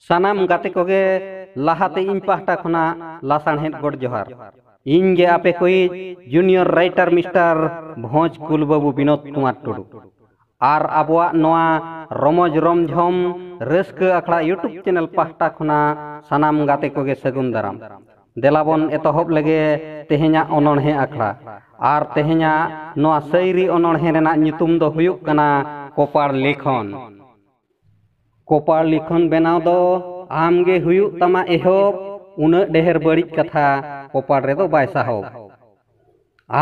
ᱥᱟᱱᱟᱢ ᱜᱟᱛᱮ ᱠᱚᱜᱮ ᱞᱟᱦᱟᱛᱮ ᱤᱧ ᱯᱟᱦᱴᱟ ᱠᱷᱚᱱᱟᱜ ᱞᱟᱥᱟᱬᱦᱮᱫ ᱜᱚᱰ ᱡᱚᱦᱟᱨ ᱤᱧ ᱜᱮ ᱟᱯᱮ ᱠᱚᱭᱤᱡ ᱡᱩᱱᱤᱭᱚᱨ ᱨᱟᱭᱴᱟᱨ ᱢᱤᱥᱴᱟᱨ ᱵᱷᱚᱸᱡᱽ ᱠᱩᱞ ᱵᱟᱹᱵᱩ ᱵᱤᱱᱳᱫ ᱠᱩᱢᱟᱨ ᱴᱩᱰᱩ ᱟᱨ ᱟᱵᱚᱣᱟᱜ ᱱᱚᱣᱟ ᱨᱚᱢᱚᱡᱽ ᱨᱚᱢᱡᱷᱚᱢ ᱨᱟᱹᱥᱠᱟᱹ ᱟᱠᱷᱲᱟ ᱤᱭᱩᱴᱩᱵᱽ ᱪᱮᱱᱮᱞ ᱯᱟᱦᱴᱟ ᱠᱷᱚᱱᱟᱜ ᱥᱟᱱᱟᱢ ᱜᱟᱛᱮ ᱠᱚᱜᱮ ᱥᱟᱹᱜᱩᱱ ᱫᱟᱨᱟᱢ ᱫᱮᱞᱟ ᱵᱚᱱ ᱮᱛᱚᱦᱚᱵ ᱞᱮᱜᱮ ᱛᱮᱦᱮᱧᱟᱜ ᱚᱱᱚᱬᱦᱮ ᱟᱠᱷᱲᱟ ᱟᱨ ᱛᱮᱦᱮᱧᱟᱜ ᱱᱚᱣᱟ ᱥᱟᱹᱭᱨᱤ ᱚᱱᱚᱬᱦᱮ ᱨᱮᱱᱟᱜ ᱧᱩᱛᱩᱢ ᱫᱚ ᱦᱩᱭᱩᱜ ᱠᱟᱱᱟ ᱠᱚᱯᱟᱲ ᱞᱤᱠᱷᱚᱱ ᱠᱚᱯᱟᱲ ᱞᱤᱠᱷᱚᱱ ᱵᱮᱱᱟᱣ ᱫᱚ ᱟᱢ ᱜᱮ ᱦᱩᱭᱩᱜ ᱛᱟᱢᱟ ᱮᱦᱚᱵ ᱩᱱᱟᱹᱜ ᱰᱮᱦᱮᱨ ᱵᱟᱹᱲᱤᱡ ᱠᱟᱛᱷᱟ ᱠᱚᱯᱟᱲ ᱨᱮᱫᱚ ᱵᱟᱭ ᱥᱟᱦᱚᱵ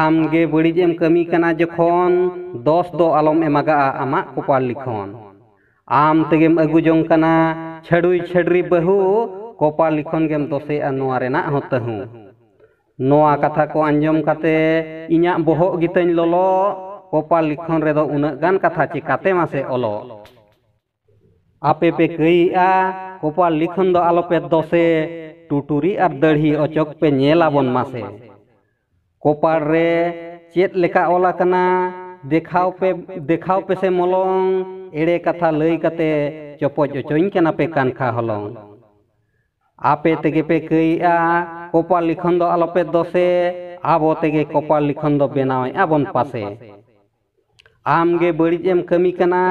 ᱟᱢ ᱜᱮ ᱵᱟᱹᱲᱤᱡ ᱮᱢ ᱠᱟᱹᱢᱤ ᱠᱟᱱᱟ ᱡᱚᱠᱷᱚᱱ ᱫᱚᱥ ᱫᱚ ᱟᱞᱚᱢ ᱮᱢᱟᱜᱟᱜᱼᱟ ᱟᱢᱟᱜ ᱠᱚᱯᱟᱲ ᱞᱤᱠᱷᱚᱱ ᱟᱢ ᱛᱮᱜᱮᱢ ᱟᱹᱜᱩ ᱡᱚᱝ ᱠᱟᱱᱟ ᱪᱷᱟᱹᱰᱩᱭ ᱪᱷᱟᱹᱰᱨᱤ ᱵᱟᱹᱦᱩ ᱠᱚᱯᱟᱲ ᱞᱤᱠᱷᱚᱱ ᱜᱮᱢ ᱫᱚᱥᱮᱜᱼᱟ ᱱᱚᱣᱟ ᱨᱮᱱᱟᱜ ᱦᱚᱸ ᱛᱟᱹᱦᱩ ᱱᱚᱣᱟ ᱠᱟᱛᱷᱟ ᱠᱚ ᱟᱸᱡᱚᱢ ᱠᱟᱛᱮ ᱤᱧᱟᱜ ᱵᱚᱦᱚᱜ ᱜᱮᱛᱟᱹᱧ ᱞᱚᱞᱚᱜ᱾ ᱠᱚᱯᱟᱞ ᱞᱤᱠᱷᱚᱱ ᱨᱮᱫᱚ ᱩᱱᱟᱹᱜ ᱜᱟᱱ ᱠᱟᱛᱷᱟ ᱪᱮᱠᱟᱛᱮ ᱢᱟᱥᱮ ᱚᱞᱚᱜ? ᱟᱯᱮ ᱯᱮ ᱠᱟᱹᱭᱮᱜᱼᱟ ᱠᱚᱯᱟᱞ ᱞᱤᱠᱷᱚᱱ ᱫᱚ ᱟᱞᱚ ᱯᱮ ᱫᱚᱥᱮ᱾ ᱴᱩᱴᱩᱨᱤ ᱟᱨ ᱫᱟᱹᱲᱦᱤ ᱚᱪᱚᱠ ᱯᱮ ᱧᱮᱞ ᱟᱵᱚᱱ ᱢᱟᱥᱮ᱾ ᱠᱚᱯᱟᱲ ᱨᱮ ᱪᱮᱫ ᱞᱮᱠᱟ ᱚᱞ ᱟᱠᱟᱱᱟ ᱫᱮᱠᱷᱟᱣ ᱯᱮ ᱫᱮᱠᱷᱟᱣ ᱯᱮᱥᱮ ᱢᱚᱞᱚᱝ᱾ ᱮᱲᱮ ᱠᱟᱛᱷᱟ ᱞᱟᱹᱭ ᱠᱟᱛᱮ ᱪᱚᱯᱚᱡ ᱚᱪᱚᱧ ᱠᱟᱱᱟ ᱯᱮ ᱠᱟᱱᱠᱷᱟ ᱦᱚᱞᱚᱝ᱾ ᱟᱯᱮ ᱛᱮᱜᱮ ᱯᱮ ᱠᱟᱹᱭᱮᱜᱼᱟ ᱠᱚᱯᱟᱞ ᱞᱤᱠᱷᱚᱱ ᱫᱚ ᱟᱞᱚᱯᱮ ᱫᱚᱥᱮ ᱟᱵᱚ ᱛᱮᱜᱮ ᱠᱚᱯᱟᱞ ᱞᱤᱠᱷᱚᱱ ᱫᱚ ᱵᱮᱱᱟᱣᱮᱜᱼᱟ ᱵᱚᱱ ᱯᱟᱥᱮ ᱟᱢ ᱜᱮ ᱵᱟᱹᱲᱤᱡ ᱮᱢ ᱠᱟᱹᱢᱤ ᱠᱟᱱᱟ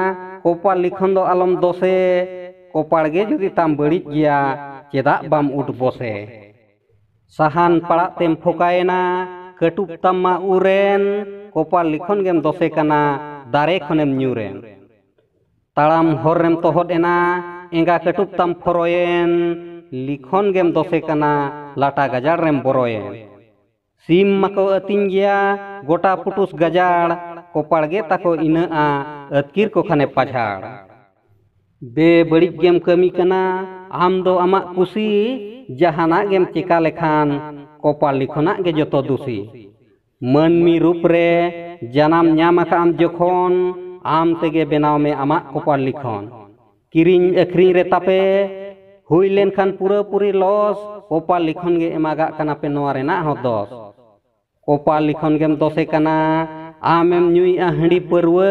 ᱠᱚᱯᱟᱞ ᱞᱤᱠᱷᱚᱱ ᱫᱚ ᱟᱞᱚᱢ ᱫᱚᱥᱮ ᱠᱚᱯᱟᱲ ᱜᱮ ᱡᱩᱫᱤ ᱛᱟᱢ ᱵᱟᱹᱲᱤᱡ ᱜᱮᱭᱟ ᱪᱮᱫᱟᱜ ᱵᱟᱢ ᱩᱴ ᱵᱚᱥᱮ ᱥᱟᱦᱟᱱ ᱯᱟᱲᱟᱜ ᱛᱮᱢ ᱯᱷᱚᱠᱟᱭᱮᱱᱟ ᱠᱟᱹᱴᱩᱵ ᱛᱟᱢ ᱢᱟ ᱩᱨᱮᱱ ᱠᱚᱯᱟᱞ ᱞᱤᱠᱷᱚᱱ ᱜᱮᱢ ᱫᱚᱥᱮ ᱠᱟᱱᱟ ᱫᱟᱨᱮ ᱠᱷᱚᱱᱮᱢ ᱧᱩᱨᱮᱱ ᱛᱟᱲᱟᱢ ᱦᱚᱨ ᱨᱮᱢ ᱛᱚᱦᱚᱫ ᱮᱱᱟ ᱮᱸᱜᱟ ᱠᱟᱹᱴᱩᱵ ᱛᱟᱢ ᱯᱷᱚᱨᱚᱭᱮᱱ ᱞᱤᱠᱷᱚᱱ ᱜᱮᱢ ᱫᱚᱥᱮ ᱠᱟᱱᱟ ᱞᱟᱴᱟ ᱜᱟᱡᱟᱲ ᱨᱮᱢ ᱵᱚᱨᱚᱭᱮᱱ ᱥᱤᱢ ᱢᱟᱠᱚ ᱟᱹᱛᱤᱧ ᱜᱮᱭᱟ ᱜᱚᱴᱟ ᱯᱩᱴᱩᱥ ᱜᱟᱡᱟᱲ ᱠᱚᱯᱟᱲ ᱜᱮ ᱛᱟᱠᱚ ᱤᱱᱟᱹᱜᱼᱟ ᱟᱹᱛᱠᱤᱨ ᱠᱚ ᱠᱷᱟᱱᱮ ᱯᱟᱡᱷᱟᱲ ᱵᱮ ᱵᱟᱹᱲᱤᱡ ᱜᱮᱢ ᱠᱟᱹᱢᱤ ᱠᱟᱱᱟ ᱟᱢ ᱫᱚ ᱟᱢᱟᱜ ᱠᱩᱥᱤ ᱡᱟᱦᱟᱱᱟᱜ ᱜᱮᱢ ᱪᱮᱠᱟ ᱞᱮᱠᱷᱟᱱ ᱠᱚᱯᱟᱲ ᱞᱤᱠᱷᱚᱱᱟᱜ ᱜᱮ ᱡᱚᱛᱚ ᱫᱩᱥᱤ᱾ ᱢᱟᱹᱱᱢᱤ ᱨᱩᱯ ᱨᱮ ᱡᱟᱱᱟᱢ ᱧᱟᱢ ᱟᱠᱟᱫ ᱟᱢ ᱡᱚᱠᱷᱚᱱ ᱟᱢ ᱛᱮᱜᱮ ᱵᱮᱱᱟᱣ ᱢᱮ ᱟᱢᱟᱜ ᱠᱚᱯᱟᱲ ᱞᱤᱠᱷᱚᱱ ᱠᱤᱨᱤᱧ ᱟᱹᱠᱷᱨᱤᱧ ᱨᱮ ᱛᱟᱯᱮ ᱦᱩᱭ ᱞᱮᱱᱠᱷᱟᱱ ᱯᱩᱨᱟᱹ ᱯᱩᱨᱤ ᱞᱚᱥ ᱠᱚᱯᱟᱲ ᱞᱤᱠᱷᱚᱱ ᱜᱮ ᱮᱢᱟᱜᱟᱜ ᱠᱟᱱᱟ ᱯᱮ ᱱᱚᱣᱟ ᱨᱮᱱᱟᱜ ᱦᱚᱸ ᱫᱚᱥ ᱠᱚᱯᱟᱲ ᱞᱤᱠᱷᱚᱱ ᱜᱮᱢ ᱫᱚᱥᱮ ᱠᱟᱱᱟ ᱟᱢᱮᱢ ᱧᱩᱭᱮᱜᱼᱟ ᱦᱟᱺᱰᱤ ᱯᱟᱹᱨᱣᱟᱹ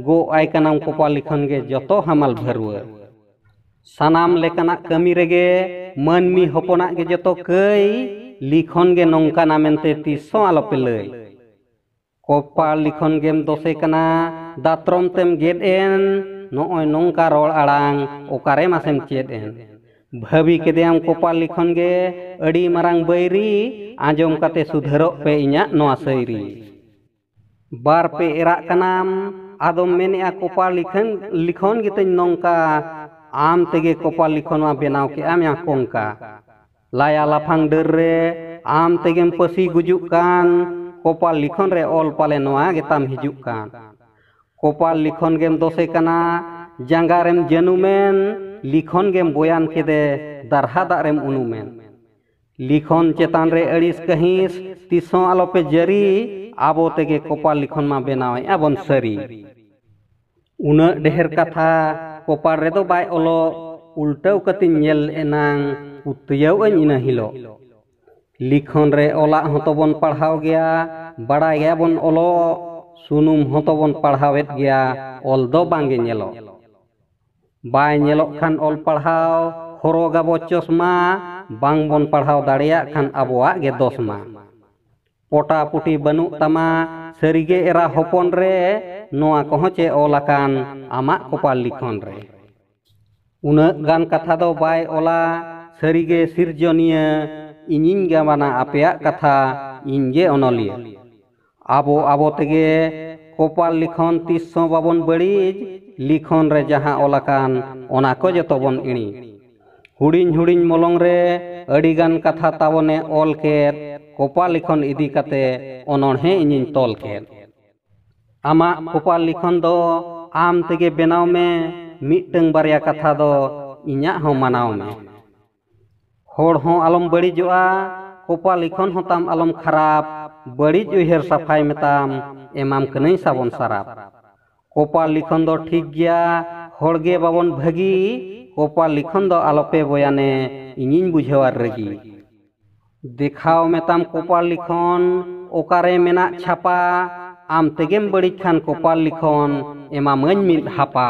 ᱜᱚᱜ ᱟᱭ ᱠᱟᱱᱟᱢ ᱠᱚᱯᱟᱲ ᱞᱤᱠᱷᱚᱱ ᱜᱮ ᱡᱚᱛᱚ ᱦᱟᱢᱟᱞ ᱵᱷᱟᱹᱨᱣᱟᱹ ᱥᱟᱱᱟᱢ ᱞᱮᱠᱟᱱᱟᱜ ᱠᱟᱹᱢᱤ ᱨᱮᱜᱮ ᱢᱟᱹᱱᱢᱤ ᱦᱚᱯᱚᱱᱟᱜ ᱜᱮ ᱡᱚᱛᱚ ᱠᱟᱹᱭ ᱞᱤᱠᱷᱚᱱ ᱜᱮ ᱱᱚᱝᱠᱟᱱᱟ ᱢᱮᱱᱛᱮ ᱛᱤᱥ ᱦᱚᱸ ᱟᱞᱚᱯᱮ ᱞᱟᱹᱭ ᱠᱚᱯᱟᱲ ᱞᱤᱠᱷᱚᱱ ᱜᱮᱢ ᱫᱚᱥᱮ ᱠᱟᱱᱟ ᱫᱟᱛᱨᱚᱢ ᱛᱮᱢ ᱜᱮᱫ ᱮᱱ ᱱᱚᱜᱼᱚᱭ ᱱᱚᱝᱠᱟ ᱨᱚᱲ ᱟᱲᱟᱝ ᱚᱠᱟᱨᱮ ᱢᱟᱥᱮᱢ ᱪᱮᱫ ᱮᱱ ᱵᱷᱟᱹᱵᱤ ᱠᱮᱫᱮᱭᱟᱢ ᱠᱚᱯᱟᱲ ᱞᱤᱠᱷᱚᱱ ᱜᱮ ᱟᱹᱰᱤ ᱢᱟᱨᱟᱝ ᱵᱟᱹᱭᱨᱤ ᱟᱸᱡᱚᱢ ᱠᱟᱛᱮ ᱥᱩᱫᱷᱟᱹᱨᱚᱜ ᱯᱮ ᱤᱧᱟᱹᱜ ᱱᱚᱣᱟ ᱥᱟᱹᱭᱨᱤ ᱵᱟᱨ ᱯᱮ ᱮᱨᱟᱜ ᱠᱟᱱᱟᱢ ᱟᱫᱚᱢ ᱢᱮᱱᱮᱜᱼᱟ ᱠᱚᱯᱟᱲ ᱞᱤᱠᱷᱚᱱ ᱞᱤᱠᱷᱚᱱ ᱜᱮᱛᱟᱹᱧ ᱱᱚᱝᱠᱟ ᱟᱢ ᱛᱮᱜᱮ ᱠᱚᱯᱟᱲ ᱞᱤᱠᱷᱚᱱ ᱢᱟ ᱵᱮᱱᱟᱣ ᱠᱮᱜᱼᱟᱢ ᱭᱟ ᱠᱚᱝᱠᱟ ᱞᱟᱭᱟ ᱞᱟᱯᱷᱟᱝ ᱰᱟᱹᱨ ᱨᱮ ᱟᱢ ᱛᱮᱜᱮᱢ ᱯᱟᱹᱥᱤ ᱜᱩᱡᱩᱜ ᱠᱟᱱ ᱠᱚᱯᱟᱲ ᱞᱤᱠᱷᱚᱱ ᱨᱮ ᱚᱞ ᱯᱟᱞᱮ ᱱᱚᱣᱟ ᱜᱮᱛᱟᱢ ᱦᱤᱡᱩᱜ ᱠᱟᱱ ᱠᱚᱯᱟᱲ ᱞᱤᱠᱷᱚᱱ ᱜᱮᱢ ᱫᱚᱥᱮ ᱠᱟᱱᱟ ᱡᱟᱸᱜᱟ ᱨᱮᱢ ᱡᱟᱹᱱᱩᱢᱮᱱ ᱞᱤᱠᱷᱚᱱ ᱜᱮᱢ ᱵᱚᱭᱟᱱ ᱠᱮᱫᱮ ᱫᱟᱨᱦᱟ ᱫᱟᱜ ᱨᱮᱢ ᱩᱱᱩᱢᱮᱱ ᱞᱤᱠᱷᱚᱱ ᱪᱮᱛᱟᱱ ᱨᱮ ᱟᱹᱲᱤᱥ ᱠᱟᱹᱦᱤᱸᱥ ᱛᱤᱥ ᱦᱚᱸ ᱟᱞᱚ ᱯᱮ ᱡᱟᱹᱨᱤ ᱟᱵᱚ ᱛᱮᱜᱮ ᱠᱚᱯᱟᱲ ᱞᱤᱠᱷᱚᱱ ᱢᱟ ᱵᱮᱱᱟᱣᱮᱫ ᱟᱵᱚᱱ ᱥᱟᱹᱨᱤ ᱩᱱᱟᱹᱜ ᱰᱷᱮᱨ ᱠᱟᱛᱷᱟ ᱠᱚᱯᱟᱲ ᱨᱮᱫᱚ ᱵᱟᱭ ᱚᱞᱚᱜ ᱩᱞᱴᱟᱹᱣ ᱠᱟᱛᱮᱧ ᱧᱮᱞ ᱮᱱᱟᱝ ᱯᱩᱛᱭᱟᱹᱣ ᱟᱹᱧ ᱤᱱᱟᱹ ᱦᱤᱞᱚᱜ ᱞᱤᱠᱷᱚᱱ ᱨᱮ ᱚᱞᱟᱜ ᱦᱚᱸ ᱛᱚᱵᱚᱱ ᱯᱟᱲᱦᱟᱣ ᱜᱮᱭᱟ ᱵᱟᱲᱟᱭ ᱜᱮᱭᱟ ᱵᱚᱱ ᱚᱞᱚᱜ ᱥᱩᱱᱩᱢ ᱦᱚᱸ ᱛᱚᱵᱚᱱ ᱯᱟᱲᱦᱟᱣᱮᱫ ᱜᱮᱭᱟ ᱚᱞ ᱫᱚ ᱵᱟᱝᱜᱮ ᱧᱮᱞᱚᱜ᱾ ᱵᱟᱭ ᱧᱮᱞᱚᱜ ᱠᱷᱟᱱ ᱚᱞ ᱯᱟᱲᱦᱟᱣ, ᱦᱚᱨᱚᱜᱽ ᱟᱵᱚ ᱪᱚᱥᱢᱟ, ᱵᱟᱝ ᱵᱚᱱ ᱯᱟᱲᱦᱟᱣ ᱫᱟᱲᱮᱭᱟᱜ ᱠᱷᱟᱱ ᱟᱵᱚᱣᱟᱜ ᱜᱮ ᱫᱚᱥ ᱢᱟ᱾ ᱯᱚᱴᱟ ᱯᱩᱴᱤ ᱵᱟᱹᱱᱩᱜ ᱛᱟᱢᱟ ᱥᱟᱹᱨᱤ ᱜᱮ ᱮᱨᱟ ᱦᱚᱯᱚᱱ ᱨᱮ, ᱱᱚᱶᱟ ᱠᱚᱦᱚᱸ ᱪᱮ ᱚᱞ ᱟᱠᱟᱱ ᱟᱢᱟᱜ ᱠᱚᱯᱟᱲ ᱞᱤᱠᱷᱚᱱ ᱨᱮ᱾ ᱩᱱᱟᱹᱜ ᱜᱟᱱ ᱠᱟᱛᱷᱟ ᱫᱚ ᱵᱟᱭ ᱚᱞᱟ ᱥᱟᱹᱨᱤ ᱜᱮ ᱥᱤᱨᱡᱚᱱᱤᱭᱟᱹ, ᱤᱧᱤᱧ ᱜᱟᱵᱟᱱᱟ ᱟᱯᱮᱭᱟᱜ ᱠᱟᱛᱷᱟ, ᱤᱧ ᱜᱮ ᱚᱱᱚᱞᱤᱭᱟᱹ᱾ ᱟᱵᱚ ᱟᱵᱚ ᱛᱮᱜᱮ ᱠᱚᱯᱟᱞ ᱞᱤᱠᱷᱚᱱ ᱛᱤᱥ ᱦᱚᱸ ᱵᱟᱵᱚᱱ ᱵᱟᱹᱲᱤᱡ ᱞᱤᱠᱷᱚᱱ ᱨᱮ ᱡᱟᱦᱟᱸ ᱚᱞ ᱟᱠᱟᱱ ᱚᱱᱟ ᱠᱚ ᱡᱚᱛᱚ ᱵᱚᱱ ᱤᱬᱤᱡ ᱦᱩᱰᱤᱧ ᱦᱩᱰᱤᱧ ᱢᱚᱞᱚᱝ ᱨᱮ ᱟᱹᱰᱤ ᱜᱟᱱ ᱠᱟᱛᱷᱟ ᱛᱟᱵᱚᱱᱮ ᱚᱞ ᱠᱮᱫ ᱠᱚᱯᱟᱞ ᱞᱤᱠᱷᱚᱱ ᱤᱫᱤ ᱠᱟᱛᱮ ᱚᱱᱚᱬᱦᱮ ᱤᱧᱤᱧ ᱛᱚᱞ ᱠᱮᱫ ᱟᱢᱟᱜ ᱠᱚᱯᱟᱞ ᱞᱤᱠᱷᱚᱱ ᱫᱚ ᱟᱢ ᱛᱮᱜᱮ ᱵᱮᱱᱟᱣ ᱢᱮ ᱢᱤᱫᱴᱟᱹᱝ ᱵᱟᱨᱭᱟ ᱠᱟᱛᱷᱟ ᱫᱚ ᱤᱧᱟᱜ ᱦᱚᱸ ᱢᱟᱱᱟᱣ ᱢᱮ᱾ ᱦᱚᱲ ᱦᱚᱸ ᱟᱞᱚᱢ ᱵᱟᱹᱲᱤᱡᱚᱜᱼᱟ ᱠᱚᱯᱟ ᱞᱤᱠᱷᱚᱱ ᱦᱚᱸ ᱛᱟᱢ ᱟᱞᱚᱢ ᱠᱷᱟᱨᱟᱯ ᱵᱟᱹᱲᱤᱡ ᱩᱭᱦᱟᱹᱨ ᱥᱟᱯᱷᱟᱭ ᱢᱮᱛᱟᱢ ᱮᱢᱟᱢ ᱠᱟᱹᱱᱟᱹᱧ ᱥᱟᱵᱚᱱ ᱥᱟᱨᱟᱯ ᱠᱚᱯᱟ ᱞᱤᱠᱷᱚᱱ ᱫᱚ ᱴᱷᱤᱠ ᱜᱮᱭᱟ ᱦᱚᱲ ᱜᱮ ᱵᱟᱵᱚᱱ ᱵᱷᱟᱹᱜᱤ ᱠᱚᱯᱟ ᱞᱤᱠᱷᱚᱱ ᱫᱚ ᱟᱞᱚ ᱯᱮ ᱵᱚᱭᱟᱱᱮ ᱤᱧᱤᱧ ᱵᱩᱡᱷᱟᱹᱣᱟ ᱨᱟᱹᱜᱤ ᱫᱮᱠᱷᱟᱣ ᱢᱮᱛᱟᱢ ᱠᱚᱯᱟ ᱞᱤᱠᱷᱚᱱ ᱚᱠᱟᱨᱮ ᱢᱮᱱᱟᱜ ᱪᱷᱟᱯᱟ ᱟᱢ ᱛᱮᱜᱮᱢ ᱵᱟᱹᱲᱤᱡ ᱠᱷᱟᱱ ᱠᱚᱯᱟ ᱞᱤᱠᱷᱚᱱ ᱮᱢᱟᱢᱟᱹᱧ ᱢᱤᱫ ᱦᱟᱯᱟ᱾